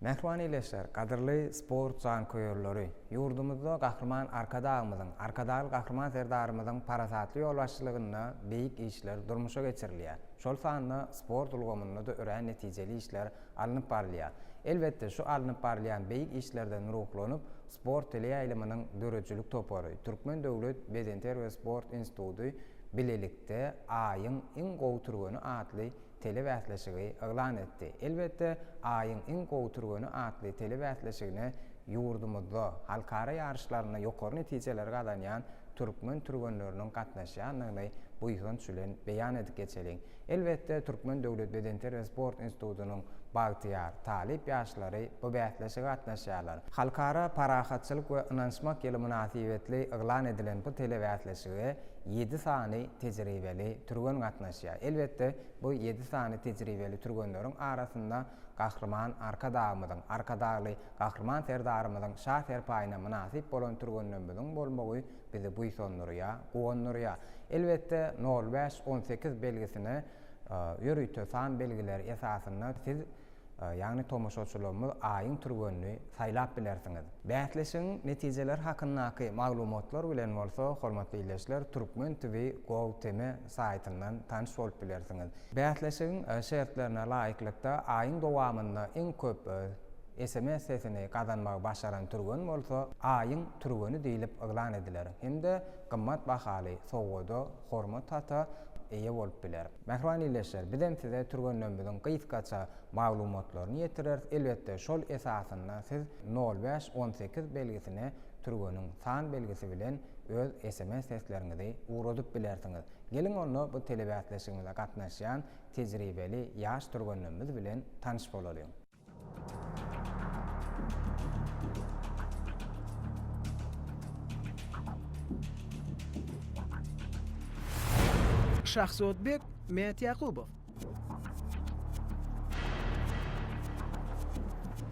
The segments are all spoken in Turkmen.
Mähriban ildeşler, gadyrly sport janköýerleri! Ýurdumyzda Gahryman Arkadagymyzyň, Arkadagly Gahryman Serdarymyzyň parasatly ýolbaşçylygynda beýik işler durmuşa geçirilýär. Şol sanda sport ulgamynda-da örän netijeli işler alnyp barylýar. Elbetde, şu alnyp barylýan beýik işlerden ruhlanyp, sport teleýaýlymynyň döredijilik topary, Türkmen döwlet bedenterbiýe we sport instituty bilelikde Aýyň iň gowy türgeni atly telebäsleşigi yglan etdi. Elbetde, Aýyň iň gowy türgeni atly telebäsleşigine ýurdumyzda, halkara ýaryşlarynda ýokary netijeleri gazanýan türkmen türgenleriniň gatnaşýandygyny buýsanç bilen beýan edip geçeliň. Elbetde, Türkmen döwlet bedenterbiýe we sport institutynyň bagtyýar, talyp ýaşlary bu bäsleşige gatnaşýarlar. Halkara parahatçylyk we ynanyşmak ýyly mynasybetli yglan edilen bu telebäsleşige ýedi sany tejribeli türgen gatnaşýar. Elbetde, bu ýedi sany tejribeli türgenleriň arasynda Gahryman Arkadagymyzyň, Arkadagly Gahryman Serdarymyzyň şa serpaýyna mynasyp bolan türgenlerimiziň bolmagy bizi buýsandyrýar, guwandyrýar. Elbetde, nol bäş, on sekiz belgisine ýörite san belgileri esasynda siz, ýagny tomaşaçylarymyz aýyň türgenini saýlap bilersiňiz. Bäsleşigiň netijeleri hakyndaky maglumatlar bilen bolsa, hormatly ildeşler, Turkmen TV Gold TM saýtyndan tanyş bolup bilersiňiz. Bäsleşigiň şertlerine laýyklykda, aýyň dowamynda iň köp Sms sesini gazanmagy başaran türgen bolsa Aýyň türgeni diýlip yglan ediler hem-de gymmat bahaly sowgada, hormat hata, eýe bolup biler. Mähriban ildeşler, bizem size türgenlerimiziň gysgaça maglumatlaryny ýetireris, elbetde şol esasynda siz nol bäş on sekiz belgisine türgeniň san belgisi bilen öz sms sesleriňizi ugradyp bilersiňiz. Geliň onda bu telebäsleşigimize gatnaşýan tejribeli ýaş türgenlerimiz bilen tanyş bolalyň. Şahzodbek Mätýakubow.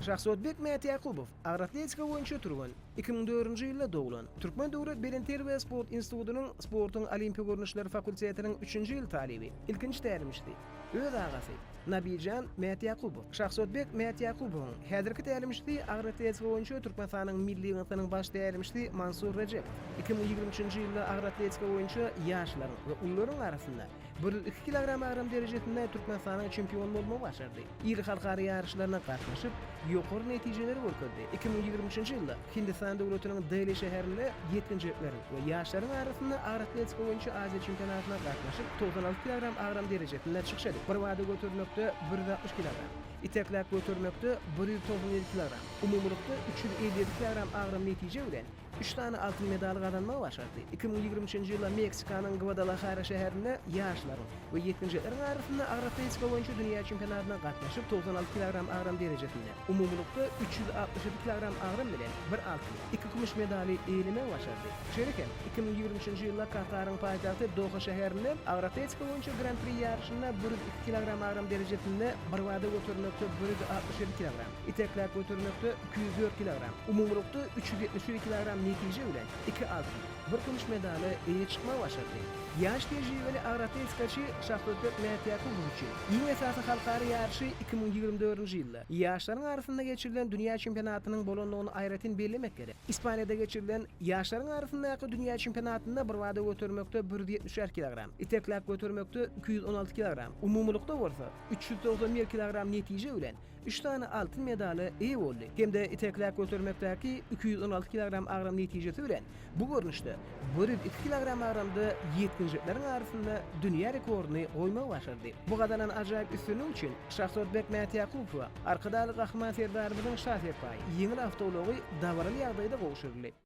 Şahzodbek Mätýakubow, agratletika boýunça türgen, 2004-nji ýylda doglan, Türkmen döwlet belenterbiýe sport institutynyň sportuň olimpiýa görnüşleri fakultetiniň üçünji ýyl talyby, ilkinji tälimçisi. Öz agasy, Nabijan Mätýakubow, Şahsotbek Mätýakubowyň häzirki tälimçisi, agroatletika boýunça Türkmenistanyň milli ýygyndysynyň baş tälimçisi Mansur Rejepow, iki müň ýigrimi üçünji ýylda agroatletika boýunça ýaşlaryň we ulularyň arasynda bir ýüz iki kilogram agram derejesinde Türkmenistanyň çempiony bolmagy başardy. Iri halkara ýaryşlaryna gatnaşyp, ýokary netijeleri görkezdi, iki müň ýigrimi üçünji ýylda Hindistan döwletiniň Deli şäherinde ýetginjekleriň we ýaşlaryň arasynda agyr atletika boýunça Aziýa çempionatyna gatnaşyp, togsan alty kilogram agram derejesinde çykyş edip, birbada götermekde bir ýüz altmyş kilogram, itekläp götermekde bir ýüz togsan ýedi kilogram, umumylykda üç ýüz elli ýedi kilogram agram netije bilen, üç sany altyn medaly gazanmagy başardy. Iki müň ýigrimi üçünji ýylda Meksikanyň Gwadalahara şäherinde ýaşlaryň we ýetginjekleriň arasynda agyr atletika boýunça dünýä çempionatyna gatnaşyp, togsan alty kilogram agram derejesinde, Umumylykda üç ýüz altmyş ýedi kilogram agram bilen bir altyn, iki kümüş medaly eýelemäge başardy. Şeýle hem, iki müň ýigrimi üçünji ýylda Kataryň paýtagty Doha şäherinde Agroatletika boýunça Gran-pri ýaryşynda bir ýüz iki kilogram agram derejesinde, birbada götermekde bir ýüz altmyş ýedi kilogram, itekläp götermekde iki ýüz dört kilogram, umumylykda üç ýüz ýetmiş ýedi kilogram netije bilen iki altyn, bir kümüş medala eýe çykmagy başardy. Ýaş tejribeli agroatletikaçy Şahbökbek Mätýakubow üçin iň esasy halkara ýaryşy iki müň ýigrimi dördünji ýylda ýaşlaryň arasynda geçirilen dünýä çempionatynyň bolandygyny aýratyn bellemek gerek. Ispaniýada geçirilen ýaşlaryň arasyndaky dünýä çempionatynda birbada götermekde bir ýüz ýetmiş bäş kilogram, itekläp götermekde iki ýüz on alty kilogram, umumylykda bolsa üç ýüz togsan bir kilogram netije bilen üç sany altyn medala eýe boldy hem-de itekläp götermekdäki iki ýüz on alty kilogram agram netijesi bilen bu görnüşde bir ýüz iki kilogram agramda ýetginjekleriň arasynda dünýä rekordyny goýmagy başardy. Bu gazanan ajaýyp üstünlik üçin Şahzodbek Mätýakubowa Arkadagly Gahryman Serdarymyzyň şa serpaýy, ýeňil awtoulagy dabaraly ýagdaýda gowşuryldy.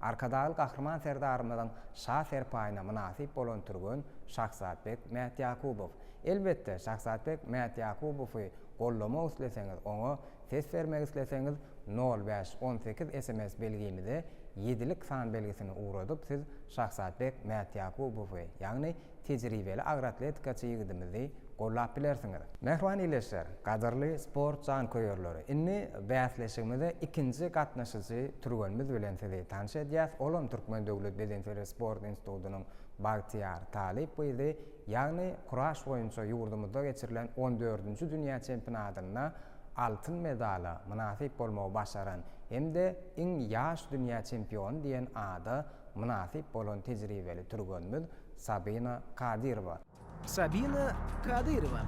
Arkadagly Gahryman Serdarymyzyň şa serpaýyna mynasyp bolan türgen Şahzadbek Mätýakubow. Elbetde, Şahzadbek Mätýakubowy goldamak isleseňiz, oňa ses bermek isleseňiz, nol bäş on sekiz sms belgimize ýedilik san belgisini ugradyp siz Şahzadbek Mätýakubowy, ýagny tejribeli agroatletikaçy ýigidimizi gollap bilersiňiz. Mähriban ildeşler, gadyrly sport janköýerleri, indi bäsleşigimize ikinji gatnaşyjy türgenimiz bilen sizi tanyş edýäs, olam Türkmen döwlet bedenterbiýe sport institutynyň Bagtyýar Talyp gyzy, ýagny kuraş boýunça ýurdumyzda geçirilen on dördünji dünýä çempinadynda altyn medala mynasyp bolmagy başaran hem-de iň ýaş dünýä çempiony diýen ada mynasyp bolan tejribeli türgenimiz Sabina Kadyrowa. Sabina Kadyrowa.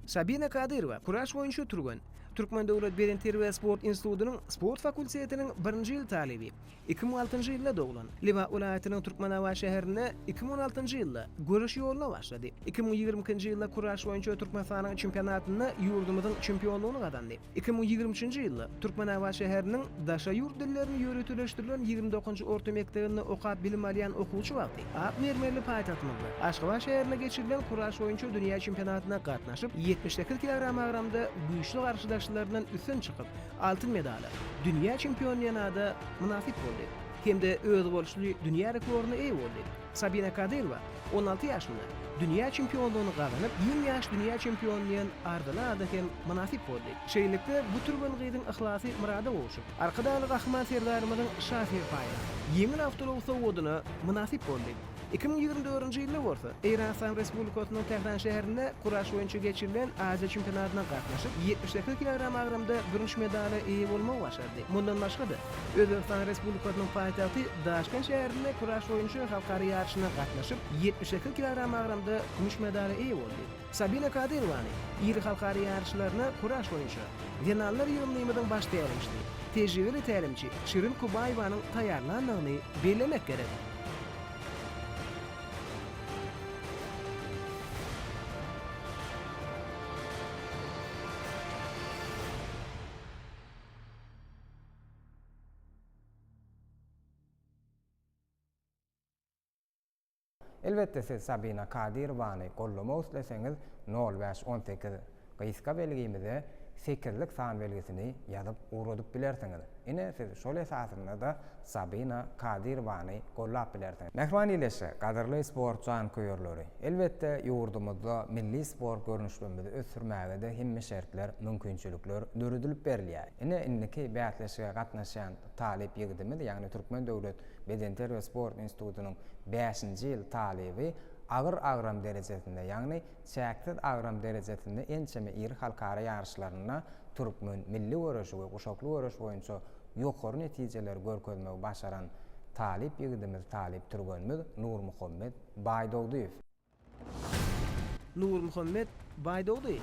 Sabina Kadyrowa, kuraş boýunça türgen. Türkmen döwlet bedenterbiýe-sport institutynyň sport fakultetiniň birinji ýyl talyby. Iki müň altynjy ýylda doglan. Lebap welaýatynyň Türkmenabat şäherinde iki müň on altynjy ýylda göreş ýoluna başlady. Iki müň ýigrimi ikinji ýylda kuraş boýunça Türkmenistanyň çempionatynda ýurdumyzyň çempionlygyny gazandy. Iki müň ýigrimi üçünji ýylda Türkmenabat şäheriniň Daşary ýurt dillerini ýöriteleşdirilen ýigrimi dokuzynjy orta mekdebinde okap bilim alýan okuwçy wagty ak mermerli paýtagtymyzda, Aşgabat şäherinde geçirilen kuraş boýunça dünýä çempionatyna gatnaşyp, ýetmiş sekiz kilogram agramda güýçli garşydaşlaryndan üstün çykyp, Altyn medala dünýä çempionynada mynasyp boldy hem-de özboluşly dünýä rekordyna eýe boldy. Sabina Kadyrowa on alty ýaşynda dünýä çempionlygyny gazanyp, iň ýaş dünýä çempiony diýen arzyly ada hem mynasyp boldy. Şeýlelikde, bu türgen gyzyň yhlasy myrada gowşup, Arkadagly Gahryman Serdarymyzyň Şa serpaýy, ýeňil awtoulagy sowgadyna mynasyp boldy. Iki müň ýigrimi dördünji ýylda bolsa, Eýran Yslam Respublikasynyň Tähran şäherinde kuraş boýunça geçirilen Aziýa çempionatyna gatnaşyp, ýetmiş sekiz kilogram agramda bürünç medala eýe bolmagy başardy. Mundan başga-da, Özbegistan Respublikasynyň paýtagty Daşkent şäherinde kuraş boýunça halkara ýaryşyna gatnaşyp, ýetmiş sekiz kilogram agramda kümüş medala eýe boldy. Sabina Kadyrowany iri halkara ýaryşlaryna kuraş boýunça zenanlar ýygyndymyzyň baş tälimçisi, tejribeli tälimçi Şirin Kubaýewanyň taýýarlandygyny bellemek gerek. Elbetde siz Sabina Kadyrowany gollamak isleseňiz nol bäş on sekiz gysga belgimize sekizlik san belgisini ýazyp ugradyp bilersiňiz. Ine siz şol esasynda-da Sabina Kadyrowany gollap bilersiňiz. Mähriban Ýeleşe, gadyrly sport janköýerleri! Elbetde ýurdumyzda milli sport görnüşlerimizi ösdürmäge-de hemme şertler, mümkinçilikler döredilip berilýär. Ine indiki bäsleşige gatnaşýan talyp ýigidimiz ýagny Türkmen döwlet Bedenterbiýe we sport institutynyň bäşinji ýyl talyby agyr agram derejesinde, ýagny çäksiz agram derejesinde ençeme iri halkara ýaryşlarynda türkmen milli göreşi we guşakly göreş boýunça ýokary netijeleri görkezmegi başaran talyp ýigidimiz, talyp türgenimiz Nurmuhammet Baýdogdyýew. Nurmuhammet Baýdogdy.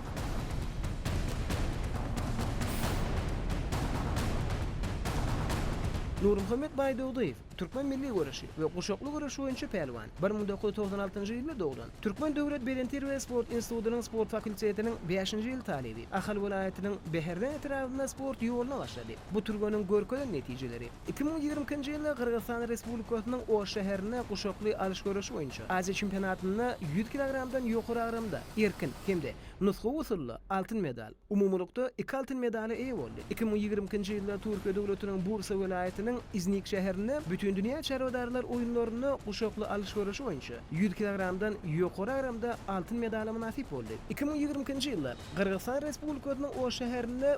Nurmuhammet Baýdogdyýew, türkmen milli göreşi we guşakly göreş boýunça pälwan, bir müň dokuz ýüz togsan altynjy ýylda doglan, Türkmen döwlet belentýer we sport institutynyň sport fakultetiniň bäşinji ýyl talyby, Ahal welaýatynyň Bäherden etrabynda sport ýoluna başlady. Bu türgeniň görkezen netijeleri. Iki müň ýigrimi ikinji ýylda Gyrgyzystan Respublikasynyň Oş şäherinde guşakly alyş göreşi boýunça Aziýa çempionatynda ýüz kilogramdan ýokary agramda, erkin, hem-de nusgawy usulda altyn medal, umumylykda iki altyn medala eýe boldy. Iki müň ýigrimi ikinji ýylda Türkiýe döwletiniň Bursa welaýatynyň Iznik şäherinde Bütindünýä çarwadarlar oýunlarynda guşakly alyş göreşi boýunça ýüz kilogramdan ýokary agramda altyn medala mynasyp boldy. Iki müň ýigrimi ikinji ýylda Gyrgyzystan Respublikasynyň Oş şäherinde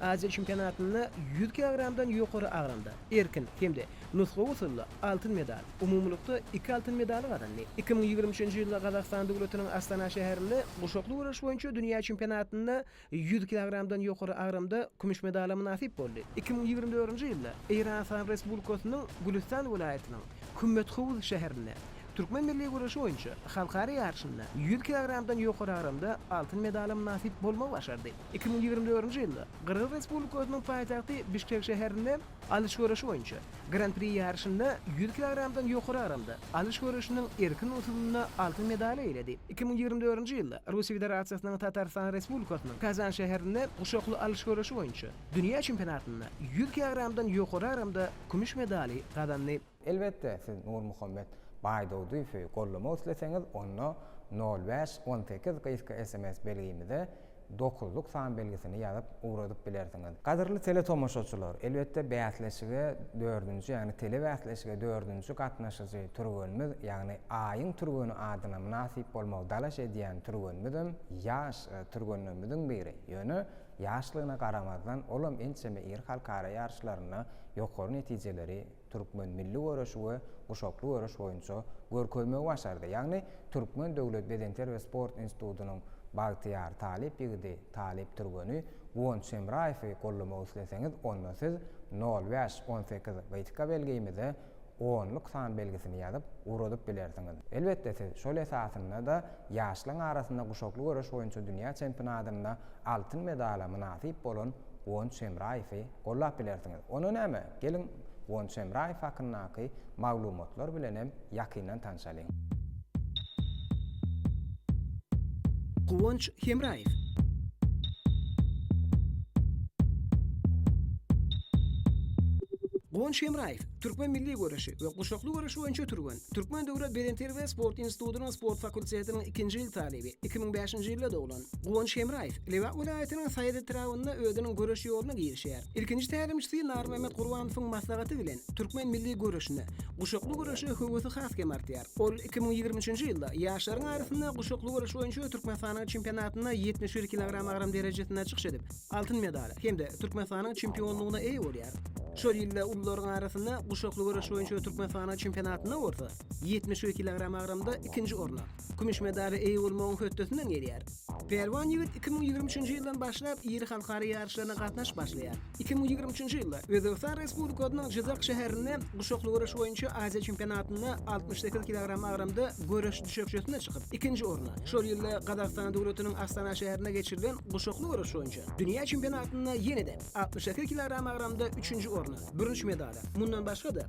Aziýa çempionatynda ýüz kilogramdan ýokary agramda, erkin, hem-de nusgawy usulda altyn medal, umumylykda iki altyn medaly gazandy. Iki müň ýigrimi üçünji ýylda Gazagystan döwletiniň Astana şäherinde guşakly göreş boýunça dünýä çempionatynda ýüz kilogramdan ýokary agramda kümüş medala mynasyp boldy. Iki müň ýigrimi dördünji ýylda Eýranysan Respublikasynyň Gülüstan welaýatynyň Kümmethovuz şäherinde türkmen milli göreşi boýunça halkara ýaryşynda ýüz kilogramdan ýokary agramda altyn medala mynasyp bolmagy başardy. Iki müň ýigrimi dördünji ýylda Gyrgyz Respublikasynyň paýtagty Bişkek şäherinde alyş göreşi boýunça Gran-pri ýaryşynda ýüz kilogramdan ýokary agramda alyş göreşiniň erkin usulynda altyn medal eýeledi. Iki müň ýigrimi dördünji ýylda Russiýa Federasiýasynyň Tatarystan Respublikasynyň Kazan şäherinde guşakly alyş göreşi boýunça dünýä çempionatynda ýüz kilogramdan ýokary agramda kümüş medaly gazandy. Elbetde, siz Nurmuhammet Baýdawdyýewi gollamak isleseňiz, onda nol bäş on sekiz gysga sms belgimize dokuzlyk san belgisini ýazyp ugradyp bilersiňiz. Gadyrly teletomaşaçylar, elbetde bäsleşige dördünji, ýagny telebäsleşige dördünji gatnaşyjy türgenimiz, ýagny Aýyň türgeni adyna mynasyp bolmagy dalaş edýän türgenimizem ýaş türgenlerimiziň biri. Ýöne ýaşlygyna garamazdan, olam ençeme iri halkara ýaryşlarynda ýokary netijeleri türkmen milli göreşi we guşakly göreş boýunça görkezmegi başardy. Ýagny Türkmen döwlet bedenter we sport institutynyň bagtyýar talyp ýigidi, talyp türgeni Guwanç Hemraýewi gollamak isleseňiz, onda siz nol bäş on sekiz gytga belgimize onluk san belgisini ýazyp, ugradyp bilersiňiz. Elbetde siz şol esasynda-da ýaşlaryň arasynda guşakly göreş boýunça dünýä çempionadynda altyn medala mynasyp bolan Guwanç Hemraýewi, gollap bilersiňiz. Onda näme, geliň Guwanç Hemraýew hakyndaky maglumatlar bilen hem ýakyndan tanşalyň. Guwanç Hemraýew. Guwanç Hemraýew, türkmen milli göreşi we guşakly göreşi boýunça türgen, Türkmen döwlet bedenterbiýe sport institutynyň sport fakultetiniň ikinji ýyl talyby, iki müň bäşinji ýylda doglan. Guwanç Hemraýew Lebap welaýatynyň Saýat etrabynda özüniň göreş ýoluna girişýär. Ilkinji tälimçisi Narmämmet Gurbanowyň maslahaty bilen türkmen milli göreşine, guşakly göreşe höwesi has hem artýar. Ol iki müň ýigrimi üçünji ýylda ýaşlaryň arasynda guşakly göreş boýunça Türkmenistanyň çempionatynda ýetmiş bir kilogram agram derejesinde çykyş edip, altyn medala hem-de Türkmenistanyň çempionlygyna eýe bolýar. Şol ýylda ulularyň arasynda guşakly göreş boýunça Türkmenistanyň çempionatynda bolsa ýetmiş bir kilogram agramda ikinji orna, Kümüş medala eýe bolmagyň hötdesinden gelýär. Pälwan ýigit iki müň ýigrimi üçünji ýyldan başlap iri halkara ýaryşlaryna gatnaşyp başlaýar. Iki müň ýigrimi üçünji ýylda Özbegistan Respublikasynyň Jyzak şäherinde Guşakly göreş boýunça Aziýa çempionatynda altmyş sekiz kilogram agramda göreş düşekçesine çykyp, ikinji orna, şol ýylda Gazagystan döwletiniň Astana şäherinde geçirilen Guşakly göreş boýunça dünýä çempionatynda ýene-de altmyş sekiz kilogram agramda üçünji orna, bürünç medala, mundan başga-da,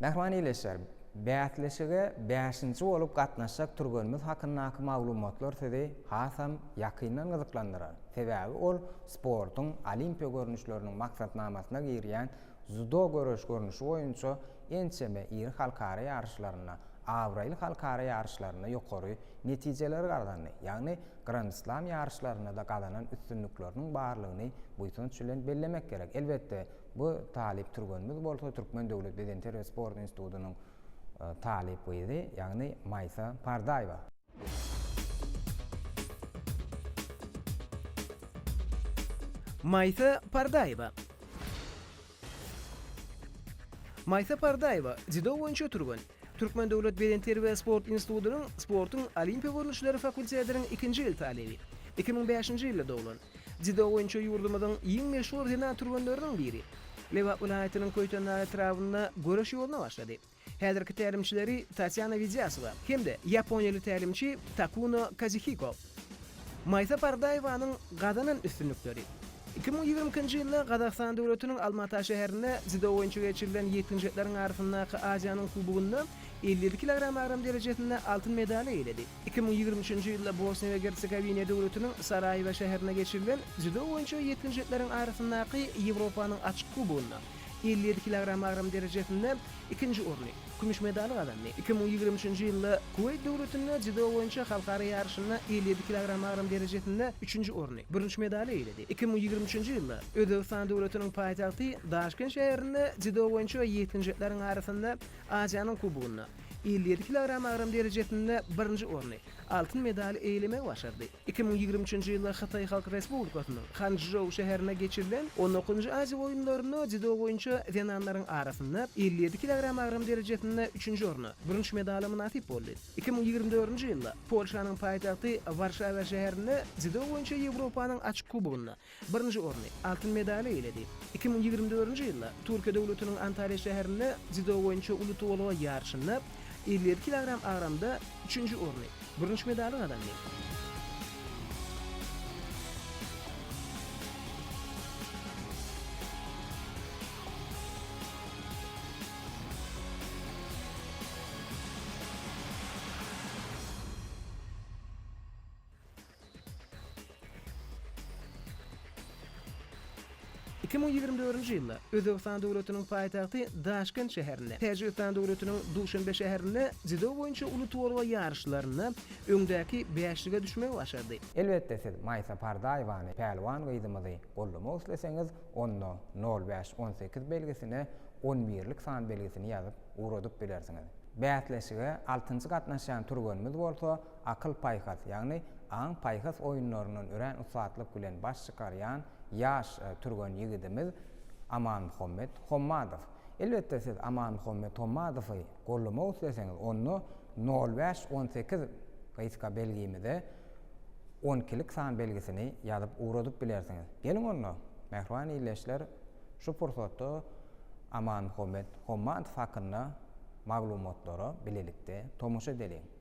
Mähriban ildeşler! Bäsleşige bäşinji bolup gatnaşjak türgenimiz hakyndaky maglumatlar sizi hasam ýakyndan gyzyklandyrar. Sebäbi ol sportuň olimpiýa görnüşleriniň maksatnamasyna girýän dzýudo göreş görnüşi boýunça Ençeme iri halkara ýaryşlarynda, abraýly halkara ýaryşlarynda ýokary netijeleri gazandy, ýagny Grand-Slam ýaryşlarynda-da gazanan üstünlikleriniň barlygyny buýsanç bilen bellemek gerek. Elbetde, bu talyp türgenimiz bolsa Türkmen döwlet bedensher we sport institutynyň talyp gyzy, ýagny Maýsa Pardaýewa. Maýsa Pardaýewa. Maýsa Pardaýewa, dziudo boýunça türgen, Türkmen döwlet bedenterbiýe sport institutynyň sportuň olimpiýa görnüşleri fakultetiniň ikinji ýyl talyby. Iki müň bäşinji ýylda doglan. Dziudo boýunça ýurdumyzyň iň meşhur zenan türgenleriniň biri. Lebap welaýatynyň Köýtendag etrabynda göreş ýoluna başlady. Häzirki tälimçileri Tatýana Widýasowa hem-de ýaponiýaly tälimçi Takuno Kazihiko. Maýsa Pardaýewanyň gazanan üstünlikleri. Iki müň ýigrimi ikinji ýylda Gazagystan döwletiniň Alma-Ata şäherinde dziudo boýunça geçirilen ýetginjekleriň arasyndaky Aziýanyň kubogynda elli ýedi kilogram agram derejesinde altyn medaly eýeledi. Iki müň ýigrimi üçünji ýylda Bosniýa we Gersegowiniýa döwletiniň Saraýewo şäherinde geçirilen dziudo boýunça ýetginjekleriň arasyndaky Ýewropanyň açyk kubogynda elli ýedi kilogram agram derejesinde ikinji orny, kümüş medaly gazandy. Iki müň ýigrimi üçünji ýylda Kuweýt döwletinde dziudo boýunça halkara ýaryşynda elli ýedi kilogram agram derejesinde üçünji orny, bürünç medaly eýeledi. Iki müň ýigrimi üçünji ýylda Özbegistan döwletiniň paýtagty Daşkent şäherinde dziudo boýunça ýetginjekleriň arasynda Aziýanyň kubogynda elli ýedi kilogram agram derejesinde birinji orny, altyn medaly eýelemegi başardy. Iki müň ýigrimi üçünji ýylda Hytaý Halk Respublikasynyň Hançžou şäherinde geçirilen on dokuzynjy Aziýa oýunlarynda dzýudo boýunça zenanlaryň arasynda elli ýedi kilogram agram derejesinde üçünji orun, bürünç medala mynasyp boldy. Iki müň ýigrimi dördünji ýylda Polşanyň paýtagty Warşawa şäherinde dzýudo boýunça Ýewropanyň açyk kubogynda Birinji orny, altyn medaly eýeledi. Iki müň ýigrimi dördünji ýylda Türkiýe döwletiniň Antalýa şäherinde dziudo boýunça uly tolga ýaryşynda elli ýedi kilogram agramda üçünji orny, bürünç medaly gazandy. Iki müň ýigrimi dördünji ýylda Özbegistan Döwletiniň paýtagty Daşkent şäherinde, Täjigistan Döwletiniň Duşanbe şäherinde dziudo boýunça uly tolga ýaryşlarynda öňdäki bäşlige düşmegi başardy. Elbetde siz Maýsa Pardaýewany, Pälwan gyzymyzy, goldamak isleseňiz, onda nol bäş on sekiz belgisine on birlik san belgisini ýazyp ugradyp bilersiňiz. Bäsleşige altynjy gatnaşýan türgenimiz bolsa akyl-paýhas, ýagny aň-paýhas oýunlaryndan örän ussatlyk bilen baş çykarýan ýaş türgen ýigidimiz Amanmuhammet Hommadow. Elbetde, siz Amanmuhammet Hommadowy goldamak isleseňiz, onda nol bäş on sekiz gysga belgimize on ikilik san belgisini ýazyp ugradyp bilersiňiz. Geliň onda, mähriban ildeşler, şu pursatda Amanmuhammet Hommadow hakynda maglumatlara bilelikde tomaşa edeliň.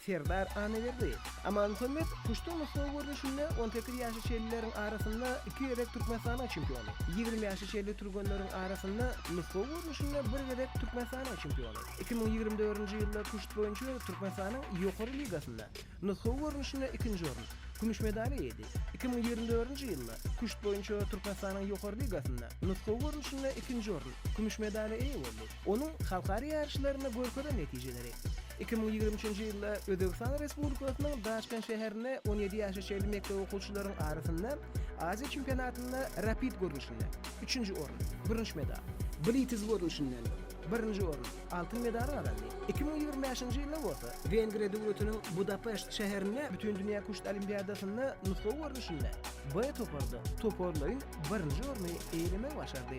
Serdar Annaberdi, Amanmuhammet Kuştuň nusgawy görnüşinde on sekiz ýaşly şellileriň arasynda iki gezek Türkmenistanyň çempiony, ýigrimi ýaşly şelli türgenleriň arasynda nusgawy görnüşinde bir gezek Türkmenistanyň çempiony, iki müň ýigrimi dördünji ýylda kuşt boýunça Türkmenistanyň Ýokary ligasynda nusgawy görnüşinde ikinji orun, kümüş medal eýedi, iki müň ýigrimi dördünji ýylda kuşt boýunça Türkmenistanyň Ýokary ligasynda nusgawy görnüşinde ikinji orun, kümüş medala eýe boldy. onuň halkara ýaryşlarynda görkezen netijeleri. Iki müň ýigrimi üçünji ýylda Özbegistan Respublikasynyň Daşkent şäherinde on ýedi ýaşa çenli mekdep okuwçylaryň arasynda Aziýa çempionatynda rapid görnüşinde, üçünji orun, bürünç medal, blitiz görnüşinden, birinji orun, altyn medal gazandy, iki müň ýigrimi bäşinji ýylda bolsa Wengriýa döwletiniň Budapeşt şäherinde Bütindünýä küşt olimpiadasynda nusgawy görnüşinde B toparda toparlaýyn birinji orny eýelemek başardy.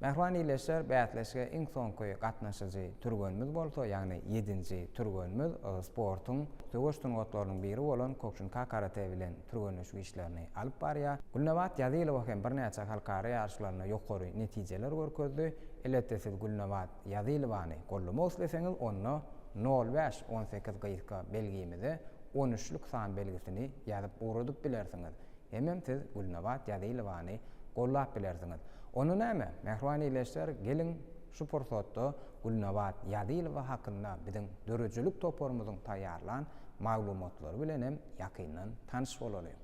Mähriban ildeşler, bäsleşige iň soňky gatnaşyjy türgenimiz bolsa, ýagny ýedinji türgenimiz sportuň söweş sungatlarynyň biri bolan Kokşinka karate bilen türgenleşik işlerini alyp barýar. Gülnabat Ýazylowa hem birnäçe halkara ýaryşlarynda ýokary netijeler görkezdi. Elbetde siz Gülnabat Ýazylowany gollamak isleseňiz, onda nol bäş on sekiz gyzka belgimize on üçlük san belgisini ýazyp ugradyp bilersiňiz. Hemem siz Gülnabat Ýazylowany gollap bilersiňiz. Onda näme, mähriban ildeşler, geliň, şu pursatda Gülnabat Ýazylowa hakynda biziň döredijilik toparymyzyň taýýarlan maglumatlary bilen hem ýakyndan tanyş bolalyň.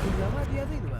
Gülnabat Ýazylowa.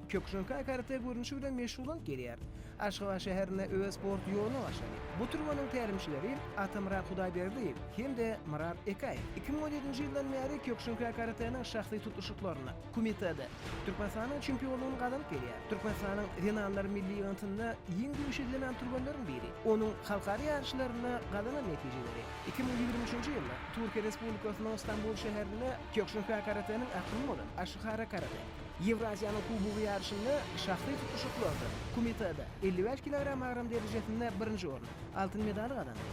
Kökjörkä karate görnüşi bilen meşhurbolup gelýär. Aşgabat şäherinde öz sport ýoluny başlady. Bu türgeniň tälimçileri Atamyrat Hudaýberdiýew hem-de Myrat Ekaýew. Iki müň on ýedinji ýyldan bäri Kökjörkä karateniň şahsy tutuşyklarynda, Kumitede, Türkmenistanyň çempionlygyny gazanyp gelýär. Türkmenistanyň zenanlar milli ýygyntynda iň güýçli zenan türgenleriň biri. Onuň halkara ýaryşlarynda gazanan netijeleri, iki müň ýigrimi üçünji ýylda Türkiýe Respublikasynyň Stambul şäherinde Kökjörkä karateniň akymy bolan Aşihara karate, Ýewraziýanyň Kubogy ýaryşynda şahsy tutuşyklarda Kumitada elli bäş kilogram agram derejesinde birinji orny, altyn medaly gazandy.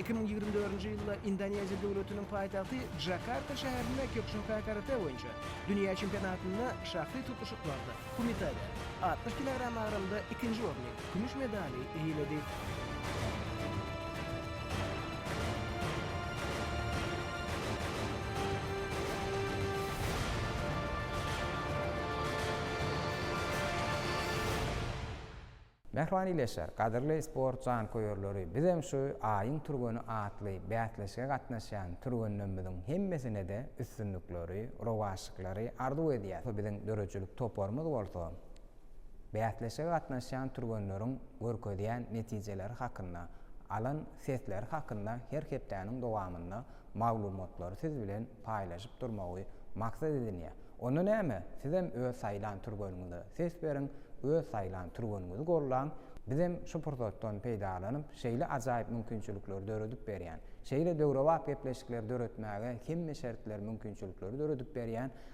Iki müň ýigrimi dördünji ýylda Indoneziýa döwletiniň paýtagty Jakarta şäherinde Kyokushinkai karate boýunça dünýä çempionatynda şahsy tutuşyklarda Kumitada altmyş kilogram agramda ikinji orny, kümüş medaly eýeledi. Mähriban ildeşler, gadyrly sport janköýerleri, bizem şu Aýyň türgeni atly bäsleşige gatnaşýan türgenlerimiziň hemmesine-de üstünlikleri, rowaçlyklary arzuw edýäs. Biziň döredijilik toparymyz bolsa Bäsleşige gatnaşýan türgenleriň görkezýän netijeleri hakynda, alan sesleri hakynda her hepdäniň dowamynda maglumatlary siz bilen paýlaşyp durmagy maksat edinýär. Onda näme, sizem öz saýlan türgeniňize ses beriň, öz saýlan türgeniňizi gollaň, bizem şu pursatdan peýdalanyp, şeýle ajaýyp mümkinçilikleri döredip berýän, şeýle döwrebap gepleşikleri döretmäge hemme şertleri, mümkinçilikleri döredip berýän